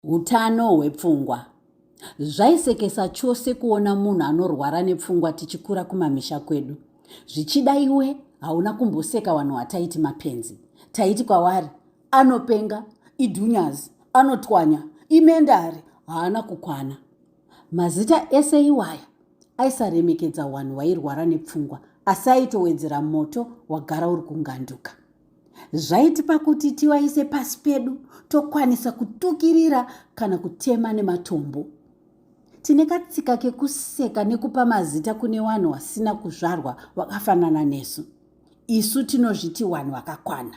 Utano hwepfungwa. Zvaisekesa chose kuona munhu anorwara nepfungwa tichikura kumamisha kwedu. Zvichida iwe hauna kumboseka vanhu wataiti mapenzi. Taiti kwavari anopenga, idhunyazi, anotwanya, imendari, haana kukwana. Mazita ese iwaya aisaremekedza wanhu wairwara nepfungwa asi aitowedzera moto wagara uri kunganduka. Zvaitipa kuti tiwaise pasi pedu tokwanisa kutukirira kana kutema nematombo. Tine katsika kekuseka nekupa mazita kune wanhu wasina kuzvarwa wakafanana nesu. Isu tinozviti wanhu wakakwana.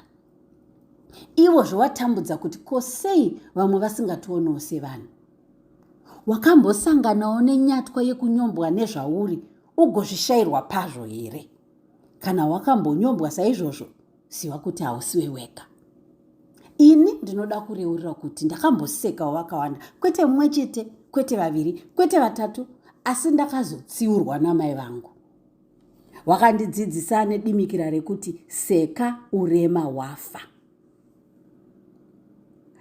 ivo zvowatambudza kuti ko sei vamwe vasingationewo sevanhu wakambosanganawo nenyatwa yekunyombwa nezvauri ugozvishayirwa pazvo here kana wakambonyombwa saizvozvo ziva kuti hausiwe wega ini ndinoda kureurira kuti ndakambosekawo vakawanda kwete mumwe chete kwete vaviri kwete vatatu asi ndakazotsiurwa namai vangu wakandidzidzisa nedimikira rekuti seka urema wafa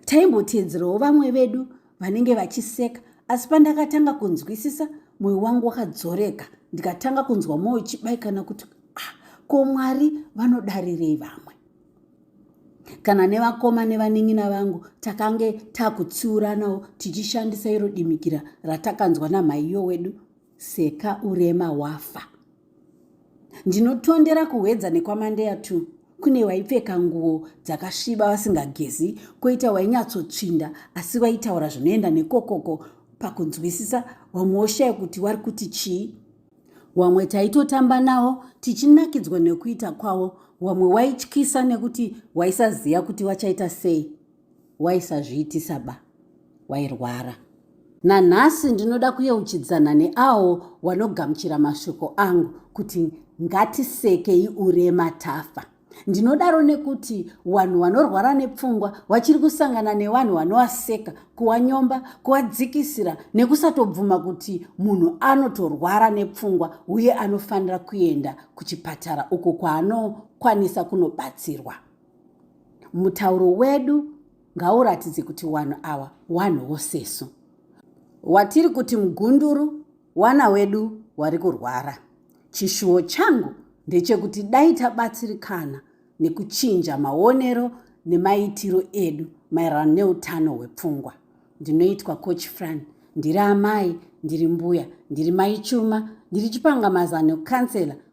taimboteedzerawo vamwe vedu vanenge vachiseka asi pandakatanga kunzwisisa mwoyo wangu wakadzoreka ndikatanga kunzwa mwoyo chibaikana kuti ah, ko mwari vanodarirei vamwe kana nevakoma nevanin'ina vangu takange takutsiuranawo tichishandisa iro dimikira ratakanzwa namhaiyo wedu seka urema wafa ndinotondera kuhwedza nekwamandeya two kune waipfeka nguo dzakasviba vasingagezi koita wainyatsotsvinda asi waitaura zvinoenda nekokoko pakunzwisisa vamwe woshaya kuti wari kuti chii wamwe taitotamba nawo tichinakidzwa nekuita kwavo wamwe waityisa nekuti waisaziva kuti wachaita sei waisazviitisa ba wairwara nanhasi ndinoda kuyeuchidzana neawo wanogamuchira mashoko angu kuti ngatisekei urema tafa ndinodaro nekuti vanhu vanorwara nepfungwa vachiri kusangana nevanhu vanovaseka kuwanyomba kuwadzikisira nekusatobvuma kuti munhu anotorwara nepfungwa uye anofanira kuenda kuchipatara uko kwaanokwanisa kunobatsirwa mutauro wedu ngauratidze kuti wanhu awa wanhu wosesu watiri kuti mugunduru wana wedu wari kurwara chishuwo changu ndechekuti dai tabatsirikana nekuchinja maonero nemaitiro edu maererano neutano hwepfungwa ndinoitwa coach fran ndiri amai ndiri mbuya ndiri maichuma ndiri chipangamazano kansela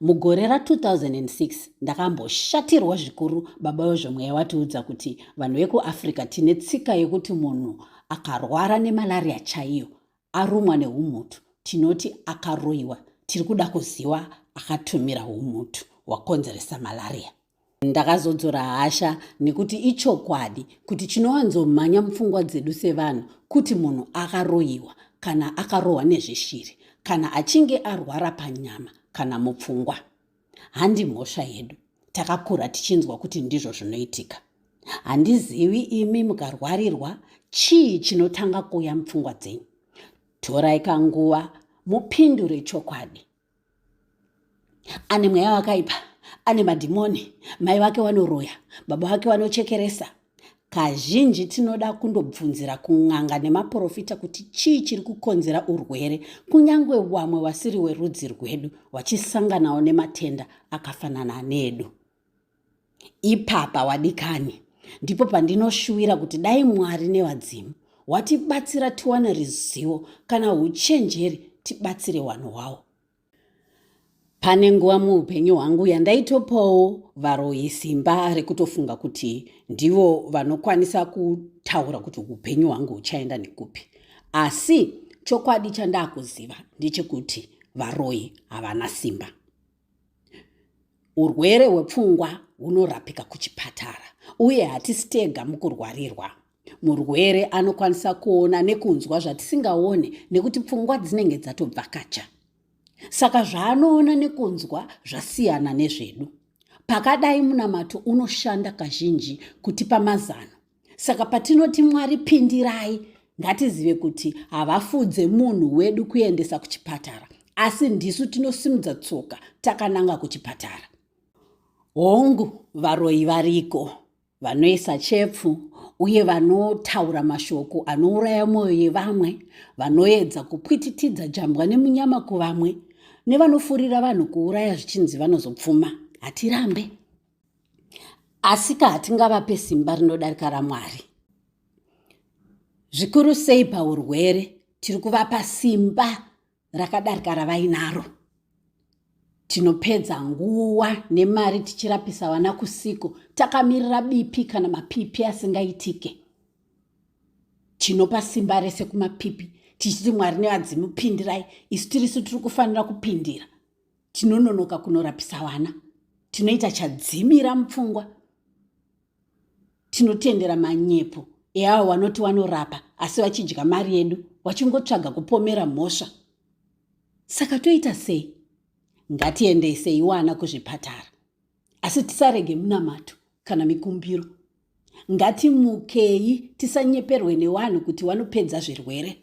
Mugore ra 2006 ndakamboshatirwa zvikuru baba wezvemweya watiudza kuti vanhu vekuAfrica tine tsika yekuti munhu akarwara nemalaria chaiyo arumwa neumutu tinoti akaroiwa tiri kuda kuziwa akatumira umutu wakonzeresa malaria Ndakazodzora hasha nekuti ichokwadi kuti chinowanzomhanya mupfungwa dzedu sevanhu kuti munhu akaroyiwa kana akarohwa nezveshiri kana achinge arwara panyama kana mupfungwa. Handi mhosva yedu, takakura tichinzwa kuti ndizvo zvinoitika. Handizivi imi mukarwarirwa chii chinotanga kuuya mupfungwa dzenyu. Torai kanguva mupindure chokwadi ane mweya wakaipa ane madhimoni mai vake vanoroya baba vake vanochekeresa kazhinji tinoda kundobvunzira kun'anga nemaprofita kuti chii chiri kukonzera urwere kunyange wamwe vasiri werudzi rwedu vachisanganawo nematenda akafanana nedu Ipapa wadikani ndipo pandinoshuwira kuti dai Mwari nevadzimu watibatsira tiwane rizivo kana uchenjeri tibatsire wanhu wawo. Pane nguva muupenyu hwangu yandaitopawo varoyi simba rekutofunga kuti ndivo vanokwanisa kutaura kuti upenyu hwangu huchaenda nekupi. Asi chokwadi chandakuziva ndechekuti varoyi havana simba. Urwere hwepfungwa hunorapika kuchipatara uye hatisi tega mukurwarirwa. Murwere anokwanisa kuona nekunzwa zvatisingaone nekuti pfungwa dzinenge dzatobvakacha. Saka zvaanoona nekunzwa zvasiyana nezvedu. Pakadai munamato unoshanda kazhinji kutipa mazano. saka patinoti mwari pindirai ngatizive kuti havafudze munhu wedu kuendesa kuchipatara asi ndisu tinosimudza tsoka takananga kuchipatara hongu varoyi variko vanoisa chepfu uye vanotaura mashoko anouraya mwoyo yevamwe vanoedza kupwititidza jambwa nemunyama kuvamwe nevanofurira vanhu kuuraya zvichinzi vanozopfuma hatirambe asika hatingavape simba rinodarika ramwari zvikuru sei paurwere tiri kuvapa simba rakadarika ravainaro tinopedza nguva nemari tichirapisa vana kusiko takamirira bipi kana mapipi asingaitike tinopa simba rese kumapipi tichiti mwari nevadzimu pindirai isu tirisu tiri kufanira kupindira tinononoka kunorapisa vana tinoita chadzimira mupfungwa tinotendera manyepo eavo vanoti vanorapa asi vachidya mari yedu vachingotsvaga kupomera mhosva saka toita sei ngatiendesei wana kuzvipatara asi tisarege munamato kana mikumbiro ngatimukei tisanyeperwe newanhu kuti wanopedza zvirwere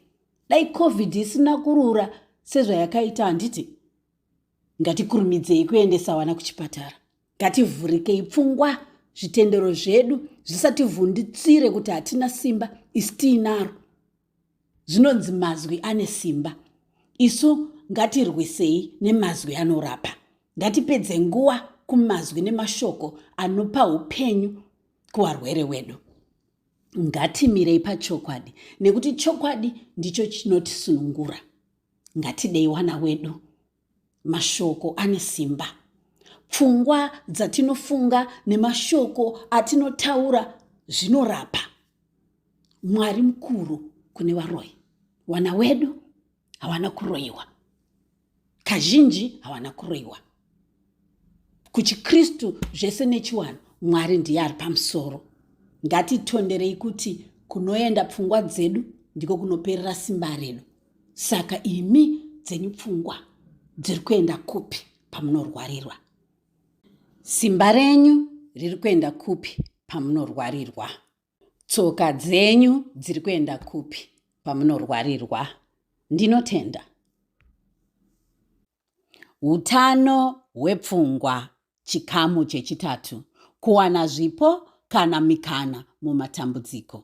dai covid isina kurura sezvayakaita handiti ngatikurumidzei kuendesa wana kuchipatara ngativhurikei pfungwa zvitendero zvedu zvisativhunditsire kuti hatina simba isi tiinaro zvinonzi mazwi ane simba isu ngatirwisei nemazwi anorapa ngatipedze nguva kumazwi nemashoko anopa upenyu kuvarwere wedu ngatimirei pachokwadi nekuti chokwadi ndicho chinotisunungura ngatidei wana wedu Mashoko ane simba. Pfungwa dzatinofunga nemashoko atinotaura zvinorapa. Mwari mukuru kune varoyi. Wana wedu hawana kuroyiwa. Kazhinji hawana kuroyiwa. KuchiKristu zvese nechiwanhu Mwari ndiye ari pamusoro. Ngatitonderei kuti kunoenda pfungwa dzedu ndiko kunoperera simba redu. Saka imi dzenyu pfungwa dziri kuenda kupi pamunorwarirwa? Simba renyu riri kuenda kupi pamunorwarirwa? Tsoka dzenyu dziri kuenda kupi pamunorwarirwa? Ndinotenda. Utano hwepfungwa chikamu chechitatu kuwana zvipo kana mikana mumatambudziko.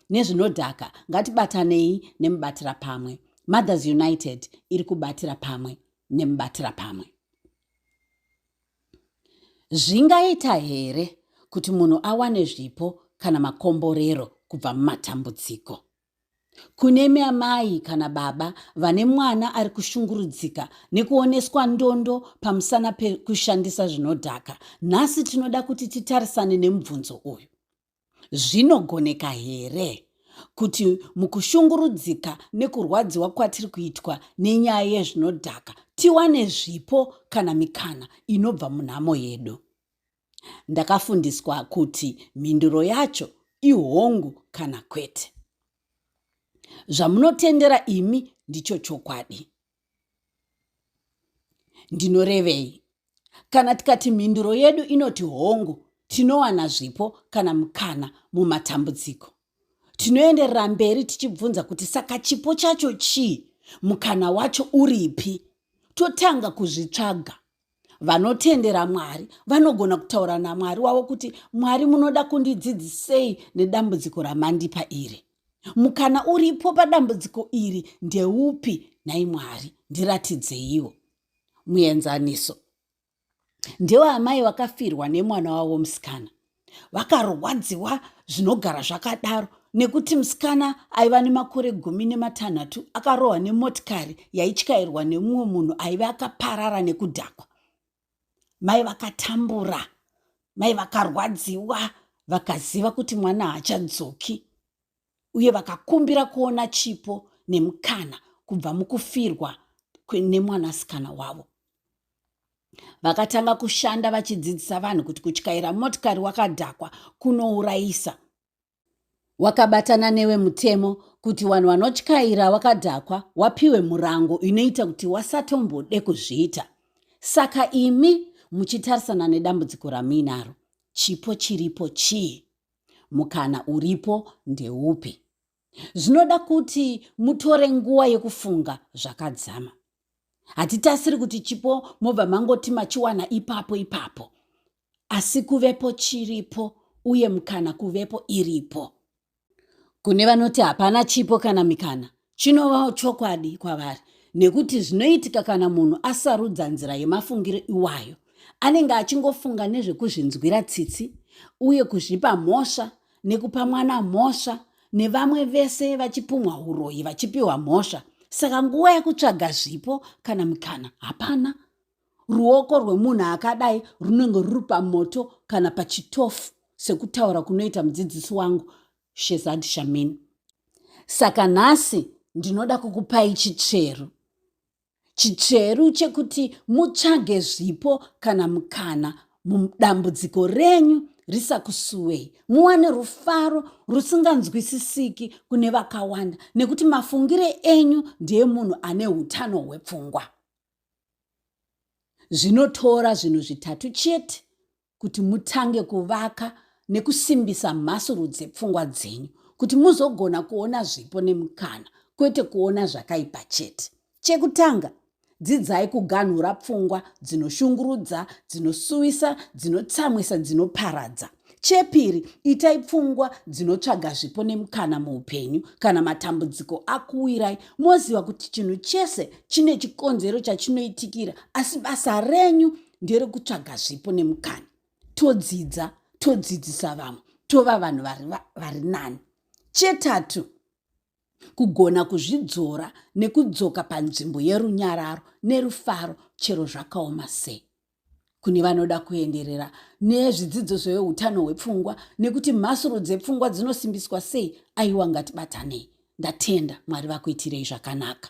nezvinodhaka ngatibatanei nemubatira pamwe mothers united iri kubatira pamwe nemubatira pamwe zvingaita here kuti munhu awane zvipo kana makomborero kubva mumatambudziko kune miamai kana baba vane mwana ari kushungurudzika nekuoneswa ndondo pamusana pekushandisa zvinodhaka nhasi tinoda kuti titarisane nemubvunzo uyu Zvinogoneka here kuti mukushungurudzika nekurwadziwa kwatiri kuitwa nenyaya yezvinodhaka tiwane zvipo kana mikana inobva munhamo yedu? Ndakafundiswa kuti mhinduro yacho ihongu kana kwete. Zvamunotendera imi ndicho chokwadi. ndinorevei kana tikati mhinduro yedu inoti hongu tinowana zvipo kana mukana mumatambudziko tinoenderera mberi tichibvunza kuti saka chipo chacho chii mukana wacho uripi totanga kuzvitsvaga vanotendera mwari vanogona kutaura namwari wavo kuti mwari munoda kundidzidzisei nedambudziko ramandipa iri mukana uripo padambudziko iri ndeupi nhai mwari ndiratidzeiwo muenzaniso ndewaamai vakafirwa nemwana wavo musikana vakarwadziwa zvinogara zvakadaro nekuti musikana aiva nemakore gumi nematanhatu akarohwa nemotikari yaityairwa nemumwe munhu aive akaparara nekudhakwa mai vakatambura mai vakarwadziwa vakaziva kuti mwana haachadzoki uye vakakumbira kuona chipo nemukana kubva mukufirwa nemwanasikana wavo vakatanga kushanda vachidzidzisa vanhu kuti kutyaira motikari wakadhakwa kunourayisa wakabatana newe mutemo kuti vanhu vanotyaira wakadhakwa wapiwe murango inoita kuti wasatombode kuzviita saka imi muchitarisana nedambudziko ramuinaro chipo chiripo chii mukana uripo ndeupi zvinoda kuti mutore nguva yekufunga zvakadzama hatitasiri kuti chipo mobva mangoti machiwana ipapo ipapo asi kuvepo chiripo uye mukana kuvepo iripo kune vanoti hapana chipo kana mikana Chinovawo chokwadi kwavari nekuti zvinoitika kana munhu asarudza nzira yemafungiro iwayo anenge achingofunga nezvekuzvinzwira tsitsi uye kuzvipa mhosva nekupa mwana mhosva nevamwe vese vachipumwa uroyi vachipiwa mhosva saka nguva yekutsvaga zvipo kana mikana hapana ruoko rwemunhu akadai runenge ruri pamoto kana pachitofu sekutaura kunoita mudzidzisi wangu shezad shamin saka nhasi ndinoda kukupai chitsveru chitsveru chekuti mutsvage zvipo kana mukana mudambudziko renyu risakusuwei muwane rufaro rusinganzwisisiki kune vakawanda nekuti mafungire enyu ndeemunhu ane utano hwepfungwa zvinotora zvinhu zvitatu chete kuti mutange kuvaka nekusimbisa mhasuru dzepfungwa dzenyu kuti muzogona kuona zvipo nemukana kwete kuona zvakaipa chete chekutanga dzidzai kuganhura pfungwa dzinoshungurudza dzinosuwisa dzinotsamwisa dzinoparadza chepiri itai pfungwa dzinotsvaga zvipo nemukana muupenyu kana matambudziko akuwirai moziva kuti chinhu chese chine chikonzero chachinoitikira asi basa renyu ndere kutsvaga zvipo nemukana todzidza todzidzisa vamwe tova vanhu vari nani chetatu kugona kuzvidzora nekudzoka panzvimbo yerunyararo nerufaro chero zvakaoma sei kune vanoda kuenderera nezvidzidzo zveutano hwepfungwa nekuti mhasuru dzepfungwa dzinosimbiswa sei aiwa ngatibatanei ndatenda mwari vakuitirei zvakanaka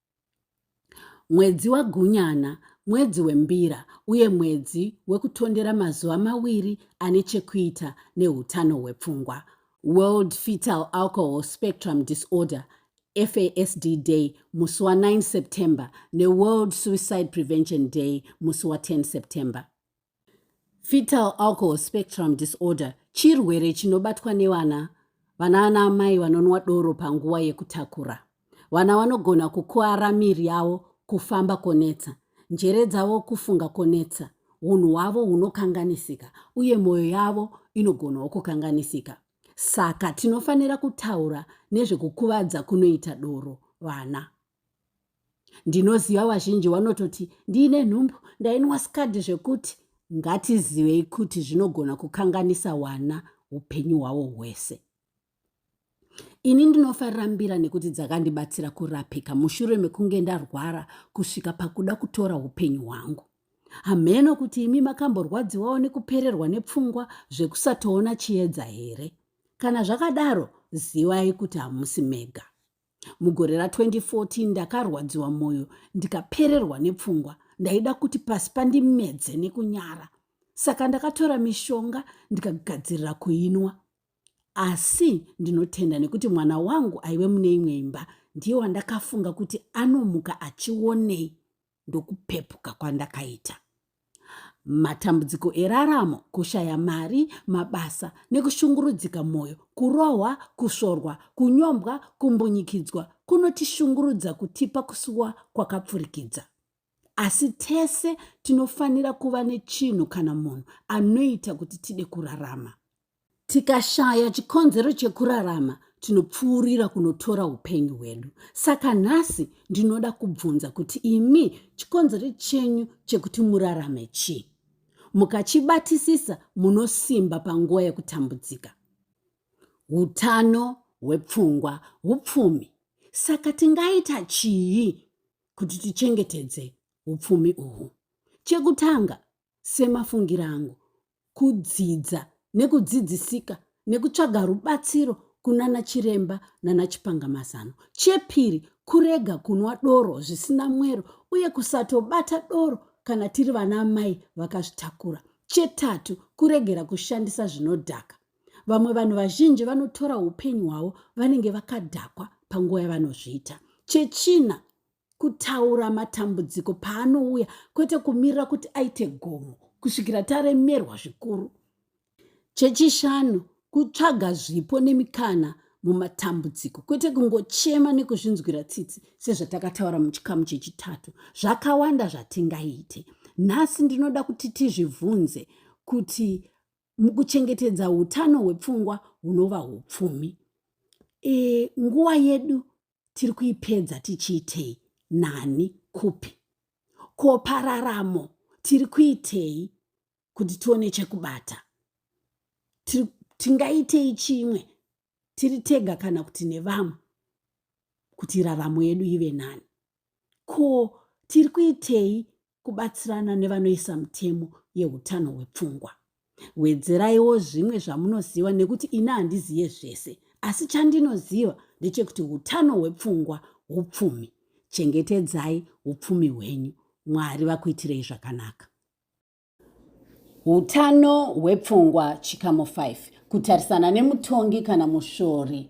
Mwedzi waGunyana mwedzi wembira uye mwedzi wekutondera mazuva mawiri ane chekuita neutano hwepfungwa. World Fetal Alcohol Spectrum Disorder, FASD Day, musi wa9 September neWorld Suicide Prevention Day, musi wa10 September. Fetal alcohol spectrum disorder chirwere chinobatwa nevana vana ana amai vanonwa doro panguva yekutakura. Vana vanogona kukuara miri yavo, kufamba konetsa, njere dzavo kufunga konetsa, unhu hwavo hunokanganisika uye mwoyo yavo inogonawo kukanganisika. Saka tinofanira kutaura nezvekukuvadza kunoita doro vana. ndinoziva vazhinji vanototi ndiine nhumbu ndainwa skadi zvekuti ngatizivei kuti zvinogona kukanganisa wana upenyu hwavo hwese ini ndinofarira mbira nekuti dzakandibatsira kurapika mushure mekunge ndarwara kusvika pakuda kutora upenyu hwangu hamheno kuti imi makamborwadziwawo nekupererwa nepfungwa zvekusatoona chiedza here kana zvakadaro zivai kuti hamusi mega mugore ra 2014 ndakarwadziwa mwoyo ndikapererwa nepfungwa ndaida kuti pasi pandimedze nekunyara saka ndakatora mishonga ndikagadzirira kuinwa asi ndinotenda nekuti mwana wangu aive mune imwe imba ndiye wandakafunga kuti anomuka achionei ndokupepuka kwandakaita matambudziko eraramo kushaya mari mabasa nekushungurudzika mwoyo kurohwa kusvorwa kunyombwa kumbunyikidzwa kunotishungurudza kutipa kusuwa kwakapfurikidza asi tese tinofanira kuva nechinhu kana munhu anoita kuti tide kurarama Tikashaya chikonzero chekurarama, tinopfuurira kunotora upenyu hwedu. Saka nhasi ndinoda kubvunza kuti imi chikonzero chenyu chekuti murarame chii? Mukachibatisisa munosimba panguva yekutambudzika. Utano hwepfungwa, upfumi. Saka tingaita chii kuti tichengetedze upfumi uhwu? Chekutanga, semafungiro angu, kudzidza nekudzidzisika nekutsvaga rubatsiro kunana chiremba nana chipangamazano. Chepiri, kurega kunwa doro zvisina mwero uye kusatobata doro kana tiri vana amai vakazvitakura. Chetatu, kuregera kushandisa zvinodhaka. Vamwe vanhu vazhinji vanotora upenyu hwavo vanenge vakadhakwa panguva yavanozviita. Chechina, kutaura matambudziko paanouya kwete kumirira kuti aite gomo kusvikira taremerwa zvikuru chechishanu kutsvaga zvipo nemikana mumatambudziko kwete kungochema nekuzvinzwira tsitsi sezvatakataura muchikamu chechitatu zvakawanda zvatingaite nhasi ndinoda kuti tizvibvunze kuti mukuchengetedza utano hwepfungwa hunova upfumi e, nguva yedu tiri kuipedza tichiitei nani kupi ko pararamo tiri kuitei kuti tione chekubata tingaitei chimwe tiri tega kana kuti nevamwe kuti raramo yedu ive nani ko tiri kuitei kubatsirana nevanoisa mutemo yeutano hwepfungwa wedzeraiwo zvimwe zvamunoziva nekuti ini handizive zvese asi chandinoziva ndechekuti utano hwepfungwa upfumi chengetedzai upfumi hwenyu mwari vakuitirei zvakanaka utano hwepfungwa chikamo 5 kutarisana nemutongi kana mushori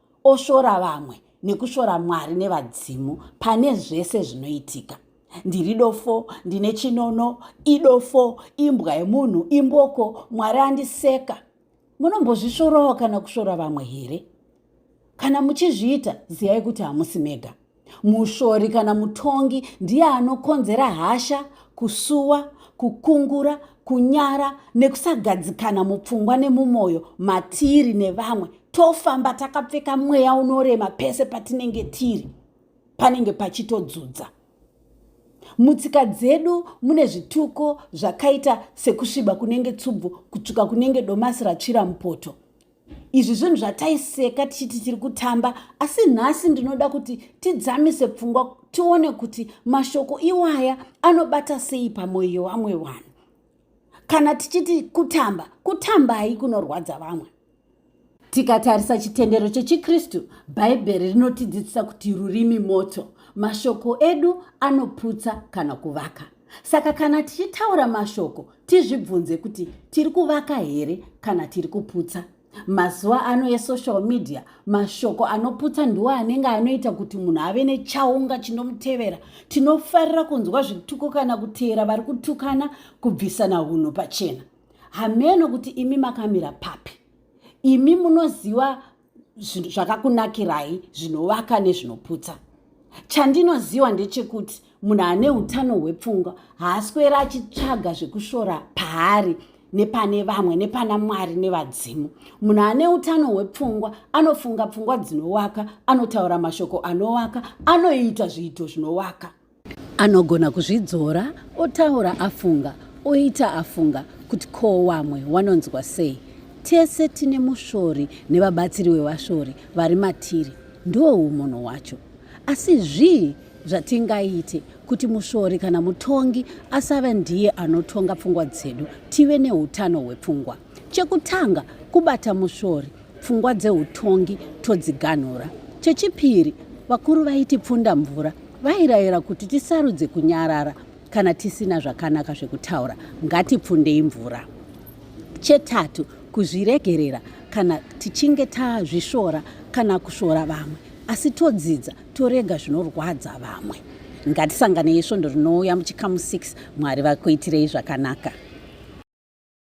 oshora vamwe nekushora mwari nevadzimu pane zvese zvinoitika ndiri dofo ndine chinono idofo imbwa yemunhu imboko mwari andiseka munombozvisvorawo kana kushora vamwe here kana muchizviita ziyai kuti hamusi mega mushori kana mutongi ndiye anokonzera hasha kusuwa kukungura kunyara nekusagadzikana mupfungwa nemumwoyo matiri nevamwe tofamba takapfeka mweya unorema pese patinenge tiri panenge pachitodzudza mutsika dzedu mune zvituko zvakaita sekusviba kunenge tsubvu kutsvuka kunenge domasi ratsvira mupoto izvi zvinhu zvataiseka tichiti tiri kutamba asi nhasi ndinoda kuti tidzamise pfungwa tione kuti mashoko iwaya anobata sei pamwoyo yevamwe vanhu kana tichiti kutamba kutambai kunorwadza vamwe tikatarisa chitendero chechikristu bhaibheri rinotidzidzisa kuti rurimi moto mashoko edu anoputsa kana kuvaka Saka kana tichitaura mashoko tizvibvunze kuti tiri kuvaka here kana tiri kuputsa. Mazuva ano esocial media mashoko anoputsa ndiwo anenge anoita kuti munhu ave nechaunga chinomutevera. Tinofarira kunzwa zvituko kana kuteera vari kutukana kubvisana unhu pachena. Hameno kuti imi makamira papi. Imi munoziva zvakakunakirai zvinovaka nezvinoputsa chandinoziva ndechekuti munhu ane utano hwepfungwa haaswera achitsvaga zvekushora paari nepane vamwe nepana mwari nevadzimu munhu ane utano hwepfungwa anofunga pfungwa dzinowaka anotaura mashoko anowaka anoita zviito zvinowaka Anogona kuzvidzora otaura afunga, oita afunga kuti ko wamwe wanonzwa sei. Tese tine mushori nevabatsiri wevashori vari matiri, ndiwo umunhu hwacho. Asi zvii zvatingaite kuti mushori kana mutongi asave ndiye anotonga pfungwa dzedu, tive neutano hwepfungwa? Chekutanga, kubata musvori, pfungwa dzeutongi todziganhura. Chechipiri, vakuru vaiti pfunda mvura vairayira kuti tisarudze kunyarara kana tisina zvakanaka zvekutaura, ngatipfundei mvura. Chetatu, kuzviregerera kana tichinge tazvisvora kana kusvora vamwe, asi todzidza torega zvinorwadza vamwe. Ngatisanganei svondo rinouya muchikamu 6 Mwari vakuitirei zvakanaka.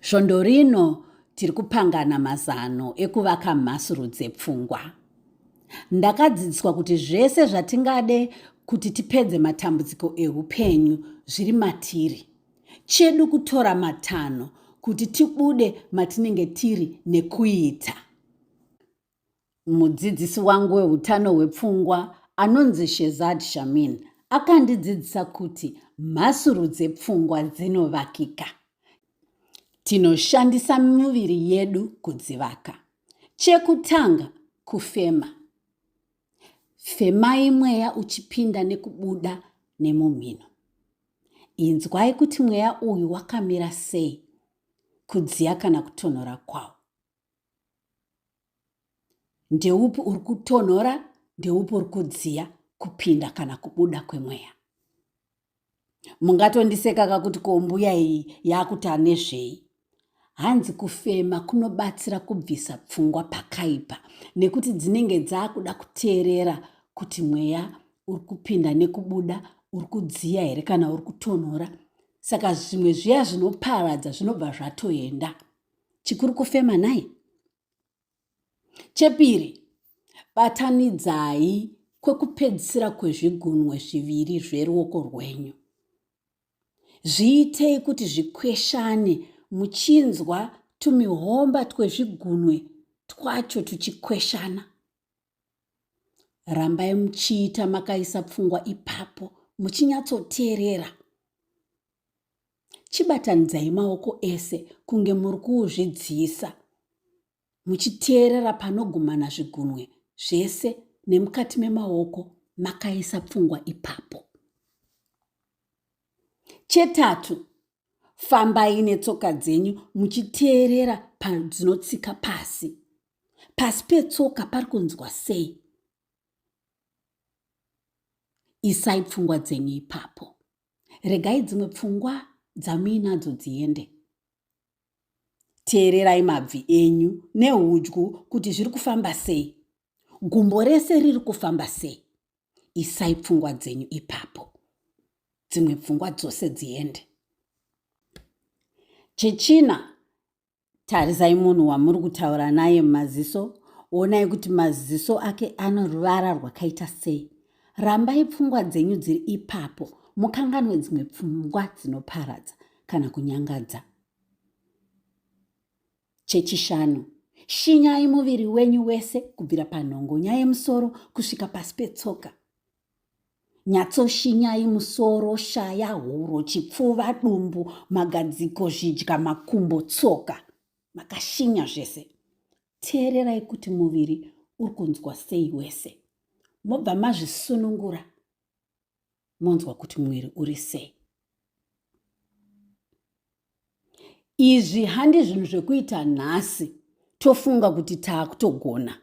Svondo rino tiri kupangana mazano ekuvaka mhasuru dzepfungwa. Ndakadzidziswa kuti zvese zvatingade kuti tipedze matambudziko eupenyu zviri matiri. Chedu kutora matanho kuti tibude matinenge tiri nekuita. Mudzidzisi wangu weutano hwepfungwa anonzi Shezad Shamin akandidzidzisa kuti mhasuru dzepfungwa dzinovakika. Tinoshandisa miviri yedu kudzivaka. Chekutanga, kufema. Femai mweya uchipinda nekubuda nemumhino. Inzwai kuti mweya uyu wakamira sei, kudziya kana kutonhora kwawo. ndeupi uri kutonhora ndeupi uri kudziya kupinda kana kubuda kwemweya mungatondiseka kakuti kombuya iyi yakuti anezvei hanzi kufema kunobatsira kubvisa pfungwa pakaipa nekuti dzinenge dzaakuda kuteerera kuti mweya uri kupinda nekubuda uri kudziya here kana uri kutonhora saka zvimwe zviya zvinoparadza zvinobva zvatoenda chikuru kufema nhai chepiri batanidzai kwekupedzisira kwezvigunwe zviviri zveruoko rwenyu zviitei kuti zvikweshane muchinzwa tumihomba twezvigunwe twacho tuchikweshana rambai muchiita makaisa pfungwa ipapo muchinyatsoteerera chibatanidzai maoko ese kunge muri kuuzvidziisa muchiteerera panogumana zvigunwe zvese nemukati memaoko makaisa pfungwa ipapo chetatu fambai netsoka dzenyu muchiteerera padzinotsika pasi pasi petsoka pari kunzwa sei isai pfungwa dzenyu ipapo regai dzimwe pfungwa dzamuinadzo dziende teererai mabvi enyu neudyu kuti zviri kufamba sei gumbo rese riri kufamba sei isai pfungwa dzenyu ipapo dzimwe pfungwa dzose dziende chechina Tarisai munhu wamuri kutaura naye mumaziso, onai kuti maziso ake ano ruvara rwakaita sei. Rambai pfungwa dzenyu dziri ipapo, mukanganwe dzimwe pfungwa dzinoparadza kana kunyangadza. Chechishanu, shinyai muviri wenyu wese kubvira panhongonya yemusoro kusvika pasi petsoka. Nyatsoshinyai musoro, shaya, huro, chipfuva, dumbu, magadziko, zvidya, makumbo, tsoka. Makashinya zvese. Teererai kuti muviri uri kunzwa sei wese. Mobva mazvisunungura monzwa kuti muviri uri sei. izvi handi zvinhu zvekuita nhasi tofunga kuti taakutogona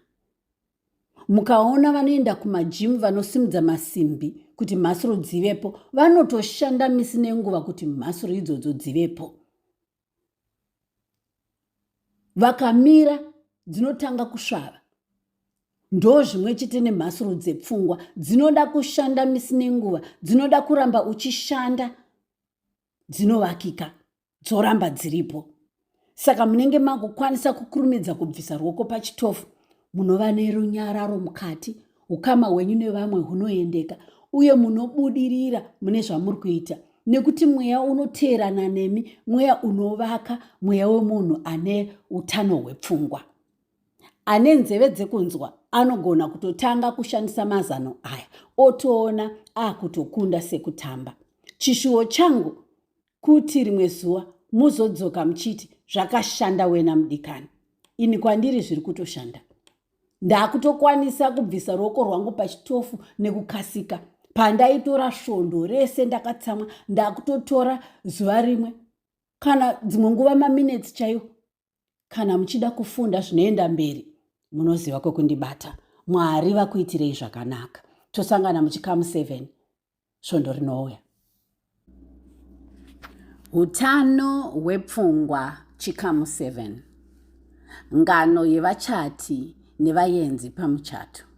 mukaona vanoenda kumajimu vanosimudza masimbi kuti mhasuru dzivepo vanotoshanda misi nenguva kuti mhasuru idzodzo dzivepo vakamira dzinotanga kusvava ndo zvimwe chete nemhasuru dzepfungwa dzinoda kushanda misi nenguva dzinoda kuramba uchishanda dzinovakika dzoramba dziripo saka munenge makukwanisa kukurumidza kubvisa ruoko pachitofu munova nerunyararo mukati ukama hwenyu nevamwe hunoendeka uye munobudirira mune zvamuri kuita nekuti mweya unoteerana nemi mweya unovaka mweya wemunhu ane utano hwepfungwa ane nzeve dzekunzwa anogona kutotanga kushandisa mazano aya otoona akutokunda sekutamba chishuwo changu kuti rimwe zuva muzodzoka muchiti zvakashanda wena mudikani ini kwandiri zviri kutoshanda ndakutokwanisa kubvisa ruoko rwangu pachitofu nekukasika pandaitora svondo rese ndakatsamwa ndakutotora zuva rimwe kana dzimwe nguva maminetsi chaiwo kana muchida kufunda zvinoenda mberi munoziva kwekundibata mwari vakuitirei zvakanaka tosangana muchikamu 7 svondo rinouya utano hwepfungwa chikamu 7 ngano yevachati nevayenzi pamuchato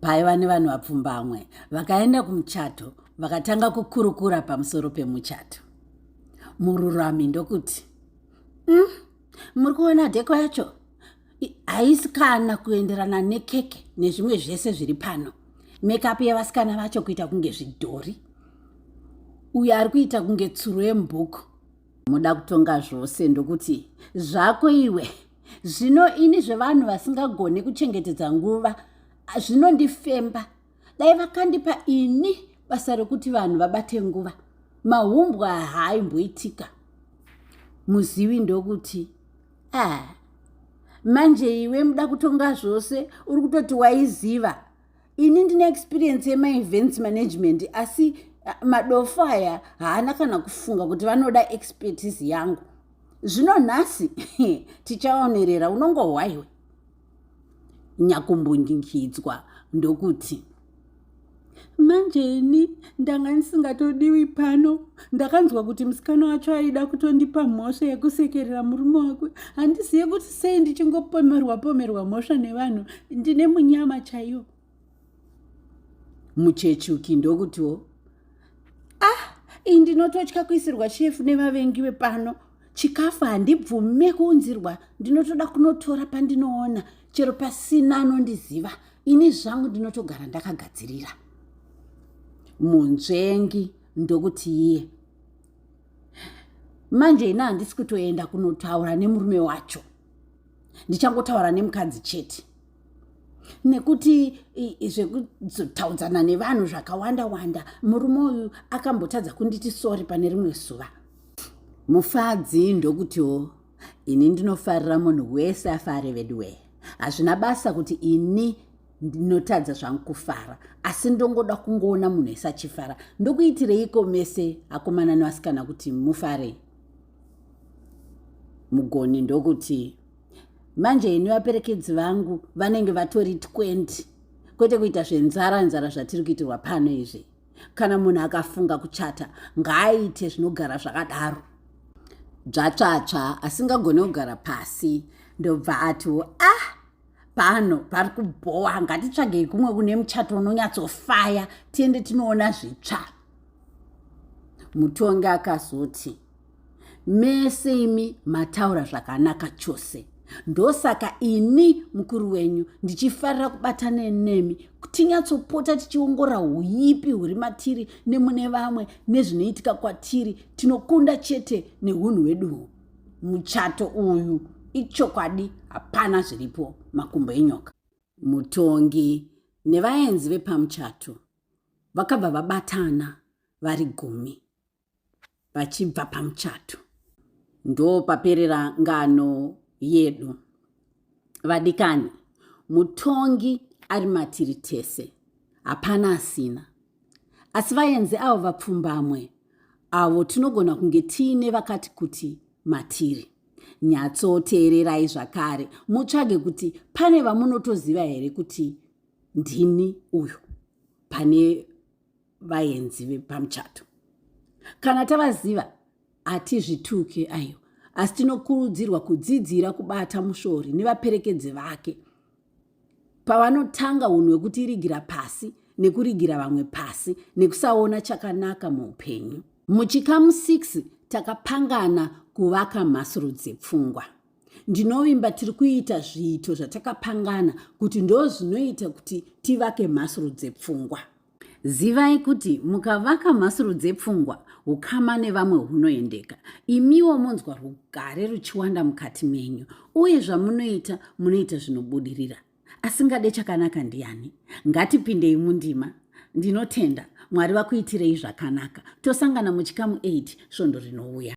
paiva nevanhu vapfumbamwe vakaenda kumuchato vakatanga kukurukura pamusoro pemuchato mururami ndokuti mm, muri kuona dheko yacho haisi kana kuenderana nekeke nezvimwe zvese zviri pano mekapu yevasikana vacho kuita kunge zvidhori uyo ari kuita kunge tsuro yemubhuku muda kutonga zvose ndokuti zvako iwe zvino ini zvevanhu vasingagone kuchengetedza nguva zvinondifemba dai vakandipa ini basa rekuti vanhu vabate nguva mahumbwa haaimboitika muzivi ndokuti a ah, manje iwe muda kutonga zvose uri kutoti waiziva ini ndine experience yemaevents management asi madofo aya haana kana kufunga kuti vanoda expertise yangu zvino nhasi tichaonerera unongohwaiwe nyakumbundikidzwa ndokuti manje ini ndanga ndisingatodiwi pano ndakanzwa kuti musikana wacho aida kutondipa mhosva yekusekerera murume wake handizive kuti sei ndichingopomerwa pomerwa mhosva nevanhu ndine munyama chaiyo muchechuki ndokutiwo ah iyi ndinototya kuisirwa shefu nevavengi vepano chikafu handibvume kuunzirwa ndinotoda kunotora pandinoona chero pasina anondiziva ini zvangu ndinotogara ndakagadzirira munzvengi ndokuti iye manje ini handisi kutoenda kunotaura nemurume wacho ndichangotaura nemukadzi chete nekuti zvekuzotaudzana nevanhu zvakawanda wanda murume uyu akambotadza kunditi sori pane rimwe zuva mufadzi ndokutiwo ini ndinofarira munhu wese afare veduwee hazvina basa kuti ini ndinotadza zvangu kufara asi ndongoda kungoona munhu ese achifara ndokuitireiko mese akomana nevasikana kuti mufarei mugoni ndokuti manje ini vaperekedzi vangu vanenge vatori 20 kwete kuita zvenzara nzara zvatiri kuitirwa pano izvi kana munhu akafunga kuchata ngaaite zvinogara zvakadaro dzvatsvatsva asingagone kugara pasi ndobva atiwo ah pano pari kubhowa ngatitsvagei kumwe kune muchato unonyatsofaya tiende tinoona zvitsva mutongi akazoti mese imi mataura zvakanaka chose ndosaka ini mukuru wenyu ndichifarira kubatana nemi tinyatsopota tichiongora uipi huri matiri nemune vamwe nezvinoitika kwatiri tinokunda chete neunhu hwedu huu muchato uyu ichokwadi hapana zviripo makumbo enyoka mutongi nevaenzi vepamuchato vakabva vabatana vari gumi vachibva pamuchato ndopaperera ngano yedu vadikani mutongi ari matiri tese hapana asina asi vaenzi avo vapfumbamwe avo tinogona kunge tiine vakati kuti matiri nyatsoteererai zvakare mutsvage kuti pane vamunotoziva here kuti ndini uyu pane vaenzi vepamuchato kana tavaziva hatizvituke aiwa asi tinokurudzirwa kudzidzira kubata mushori nevaperekedzi vake pavanotanga unhu hwekuti irigira pasi nekurigira vamwe pasi nekusaona chakanaka muupenyu muchikamu 6 takapangana kuvaka mhasuru dzepfungwa ndinovimba tiri kuita zviito zvatakapangana kuti ndo zvinoita kuti tivake mhasuru dzepfungwa zivai kuti mukavaka mhasuru dzepfungwa ukama nevamwe hunoendeka imiwo monzwa rugare ruchiwanda mukati menyu uye zvamunoita munoita zvinobudirira asingade chakanaka ndiani ngatipindei mundima ndinotenda mwari vakuitirei zvakanaka tosangana muchikamu 8 svondo rinouya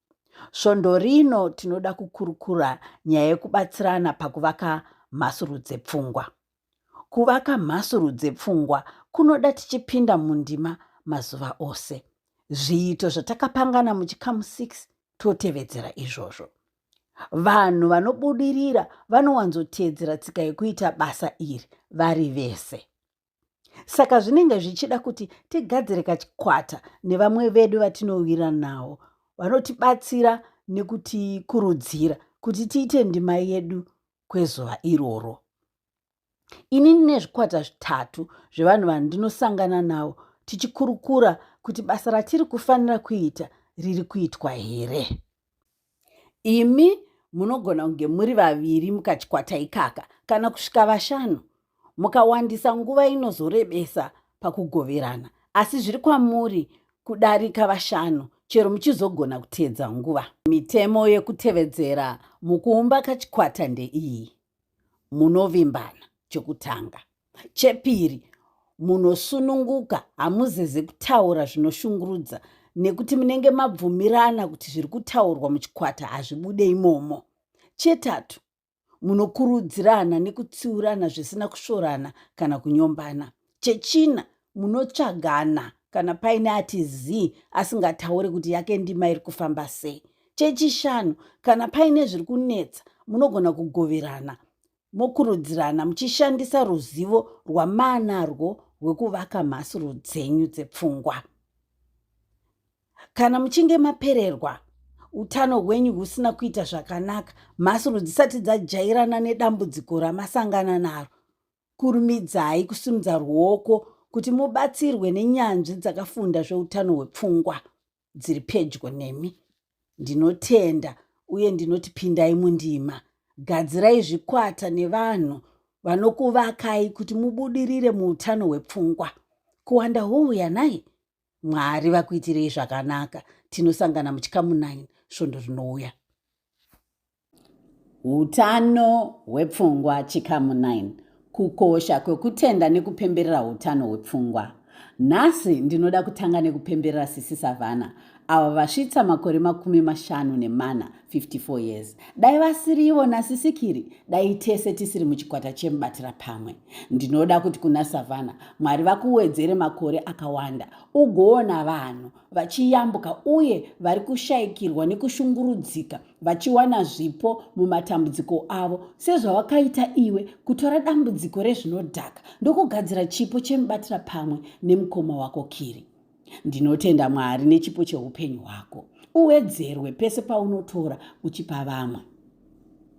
Svondo rino tinoda kukurukura nyaya yekubatsirana pakuvaka mhasuru dzepfungwa. Kuvaka mhasuru dzepfungwa kunoda tichipinda mundima mazuva ose. Zviito zvatakapangana muchikamu 6 totevedzera izvozvo. Vanhu vanobudirira vanowanzoteedzera tsika yekuita basa iri vari vese. saka zvinenge zvichida kuti tigadzire kachikwata nevamwe vedu vatinowira nawo vanotibatsira nekutikurudzira kuti tiite ndima yedu kwezuva iroro ini ndine zvikwata zvitatu zvevanhu vandinosangana navo tichikurukura kuti basa ratiri kufanira kuita riri kuitwa here imi munogona kunge muri vaviri mukachikwata ikaka kana kusvika vashanu mukawandisa nguva inozorebesa pakugoverana asi zviri kwamuri kudarika vashanu chero muchizogona kuteedza nguva mitemo yekutevedzera mukuumba kachikwata ndeiyi munovimbana chokutanga Chepiri, munosununguka, hamuzeze kutaura zvinoshungurudza nekuti munenge mabvumirana kuti zviri kutaurwa muchikwata hazvibude imomo. Chetatu, munokurudzirana nekutsiurana zvisina kusvorana kana kunyombana. Chechina, munotsvagana kana paine ati zii asingataure kuti yake ndima iri kufamba sei. Chechishanu, kana paine zviri kunetsa munogona kugoverana mokurudzirana muchishandisa ruzivo rwamaanarwo rwekuvaka mhasuru dzenyu dzepfungwa kana muchinge mapererwa utano hwenyu husina kuita zvakanaka mhasuru dzisati dzajairana nedambudziko ramasangana naro kurumidzai kusimudza ruoko kuti mubatsirwe nenyanzvi dzakafunda zveutano hwepfungwa dziri pedyo nemi ndinotenda uye ndinoti pindai mundima gadzirai zvikwata nevanhu vanokuvakai kuti mubudirire muutano hwepfungwa kuwanda houya nai mwari vakuitirei zvakanaka tinosangana muchikamu 9 svondo rinouya Utano hwepfungwa chikamu 9 kukosha kwekutenda nekupemberera utano hwepfungwa nhasi ndinoda kutanga nekupemberera sisi savana avo vasvitsa makore makumi mashanu nemana 54 years dai vasiri ivo nasisikiri dai tese tisiri muchikwata chemubatira pamwe ndinoda kuti kuna savana mwari vakuwedzere makore akawanda ugoona vanhu vachiyambuka uye vari kushayikirwa nekushungurudzika vachiwana zvipo mumatambudziko avo sezvawakaita iwe kutora dambudziko rezvinodhaka ndokugadzira chipo chemubatira pamwe nemukoma wako kiri ndinotenda mwari nechipo cheupenyu hwako uwedzerwe pese paunotora uchipa vamwe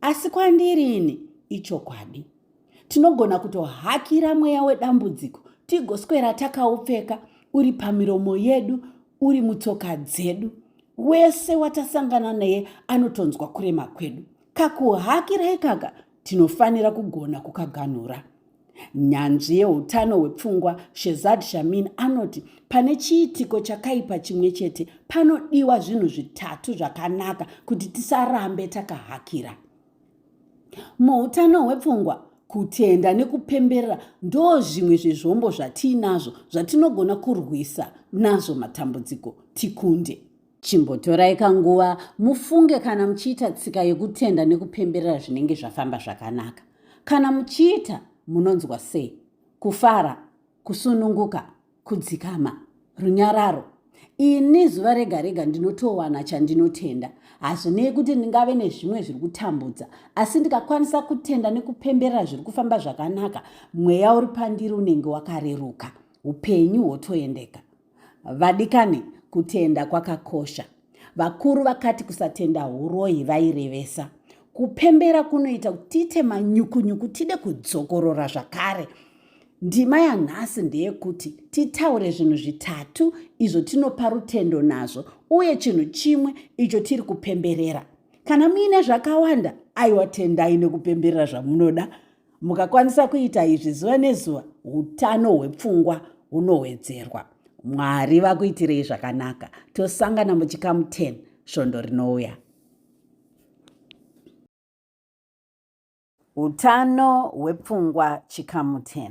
Asi kwandiri ini ichokwadi. Tinogona kutohakira mweya wedambudziko tigoswera takaupfeka uri pamiromo yedu uri mutsoka dzedu. Wese watasangana naye anotonzwa kurema kwedu. Kakuhakira ikaka tinofanira kugona kukaganhura. Nyanzvi yeutano hwepfungwa Shezad Shamin anoti pane chiitiko chakaipa chimwe chete panodiwa zvinhu zvitatu zvakanaka kuti tisarambe takahakira. Muutano hwepfungwa, kutenda nekupemberera ndo zvimwe zvezvombo zvatiinazvo zvatinogona kurwisa nazvo matambudziko tikunde. Chimbotorai kanguva mufunge kana muchiita tsika yekutenda nekupemberera zvinenge zvafamba zvakanaka. Kana muchiita, munonzwa sei? Kufara, kusununguka, kudzikama, runyararo. Ini zuva rega rega ndinotowana chandinotenda. Hazvinei kuti ndingave nezvimwe zviri kutambudza, asi ndikakwanisa kutenda nekupemberera zviri kufamba zvakanaka, mweya uri pandiri unenge wakareruka, upenyu hwotoendeka. Vadikani, kutenda kwakakosha. Vakuru vakati kusatenda huroyi vairevesa kupembera kunoita kuti tiite manyukunyuku tide kudzokorora zvakare. Ndima yanhasi ndeyekuti titaure zvinhu zvitatu izvo tinopa rutendo nazvo uye chinhu chimwe icho tiri kupemberera. Kana muine zvakawanda, aiwa tendai nekupemberera zvamunoda. Mukakwanisa kuita izvi zuva nezuva, utano hwepfungwa hunowedzerwa. Mwari vakuitirei zvakanaka. Tosangana muchikamu 10 svondo rinouya. Utano hwepfungwa chikamu 10.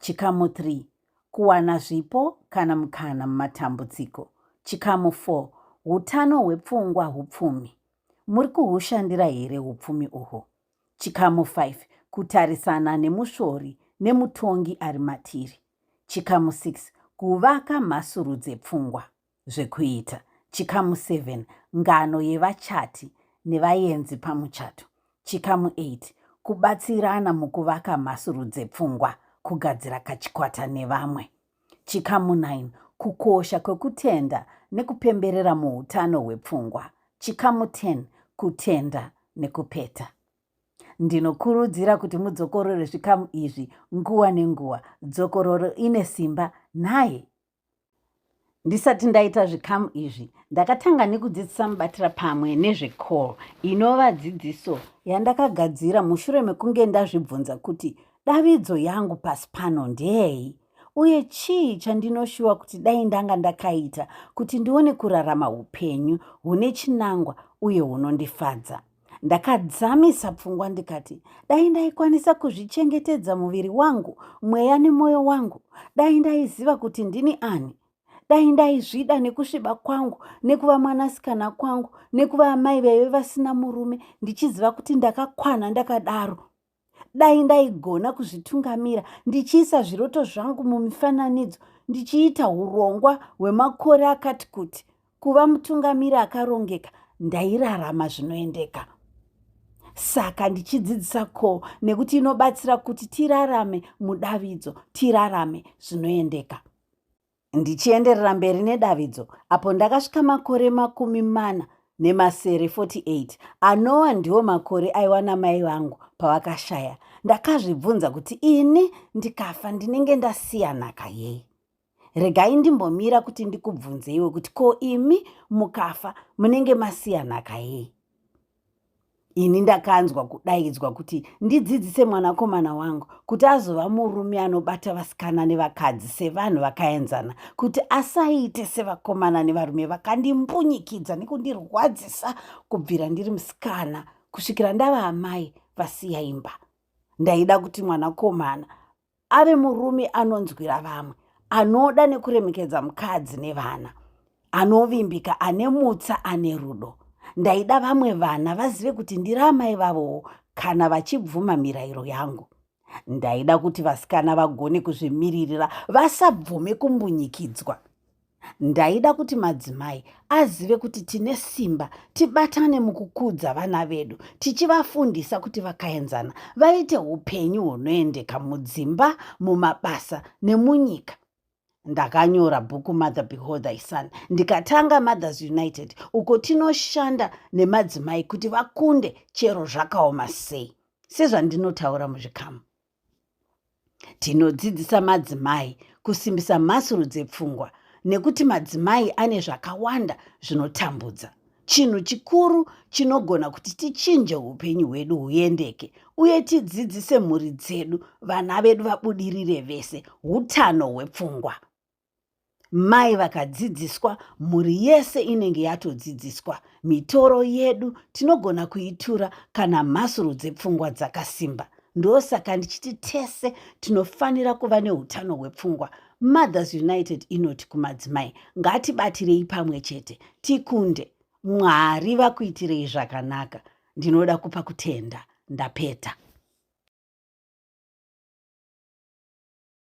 Chikamu 3 Kuwana zvipo kana mukana mumatambudziko. Chikamu 4 Utano hwepfungwa hupfumi. Muri kuhushandira here upfumi uhwo? Chikamu 5 Kutarisana nemusvori nemutongi ari matiri. Chikamu 6 Kuvaka mhasuru dzepfungwa. zvekuita. Chikamu 7 Ngano yevachati nevayenzi pamuchato. Chikamu 8 Kubatsirana mukuvaka mhasuru dzepfungwa, kugadzira kachikwata nevamwe. Chikamu 9 Kukosha kwekutenda nekupemberera muutano hwepfungwa. Chikamu 10 Kutenda nekupeta. Ndinokurudzira kuti mudzokorore zvikamu izvi nguva nenguva. Dzokororo ine simba nhai? Ndisati ndaita zvikamu izvi, ndakatanga nekudzidzisa mubatira pamwe nezvecall inova dzidziso yandakagadzira mushure mekunge ndazvibvunza kuti davidzo yangu pasi pano ndeyei uye chii chandinoshuwa kuti dai ndanga ndakaita kuti ndione kurarama upenyu hune chinangwa uye hunondifadza. ndakadzamisa pfungwa ndikati dai ndaikwanisa kuzvichengetedza muviri wangu mweya nemwoyo wangu dai ndaiziva kuti ndini ani dai ndaizvida nekusviba kwangu nekuva mwanasikana kwangu nekuva amai vaive vasina murume ndichiziva kuti ndakakwana ndakadaro dai ndaigona kuzvitungamira ndichiisa zviroto zvangu mumifananidzo ndichiita urongwa hwemakore akati kuti kuva mutungamiri akarongeka ndairarama zvinoendeka saka ndichidzidzisa ko nekuti inobatsira kuti tirarame mudavidzo tirarame zvinoendeka Ndichienderera mberi nedavidzo, apo ndakasvika makore makumi mana nemasere 48 anowa ndiwo makore aiwa namai vangu pavakashaya ndakazvibvunza kuti ini ndikafa ndinenge ndasiya nhaka yei regai ndimbomira kuti ndikubvunzeiwe kuti ko imi mukafa munenge masiya nhaka yei ini ndakanzwa kudaidzwa kuti ndidzidzise mwanakomana wangu kuti azova murume anobata vasikana nevakadzi sevanhu vakaenzana kuti asaite sevakomana nevarume vakandimbunyikidza nekundirwadzisa kubvira ndiri musikana kusvikira ndava amai vasiya imba ndaida kuti mwanakomana ave murume anonzwira vamwe anoda nekuremekedza mukadzi nevana anovimbika ane mutsa ane rudo ndaida vamwe vana vazive kuti ndiri amai vavowo kana vachibvuma mirayiro yangu ndaida kuti vasikana vagone kuzvimiririra vasabvume kumbunyikidzwa Ndaida kuti madzimai azive kuti tine simba, tibatane mukukudza vana vedu, tichivafundisa kuti vakaenzana vaite upenyu hunoendeka mudzimba, mumabasa nemunyika. Ndakanyora bhuku Mother Behold Thy Son ndikatanga Mothers United uko tinoshanda nemadzimai kuti vakunde chero zvakaoma sei sezvandinotaura muzvikamu. Tinodzidzisa madzimai kusimbisa mhasuru dzepfungwa nekuti madzimai ane zvakawanda zvinotambudza. Chinhu chikuru chinogona kuti tichinje upenyu hwedu huendeke uye tidzidzise mhuri dzedu vana vedu vabudirire vese utano hwepfungwa. mai vakadzidziswa mhuri yese inenge yatodzidziswa mitoro yedu tinogona kuitura kana mhasuru dzepfungwa dzakasimba ndosaka ndichiti tese tinofanira kuva neutano hwepfungwa mothers united inoti kumadzimai ngatibatirei pamwe chete tikunde mwari vakuitirei zvakanaka ndinoda kupa kutenda ndapeta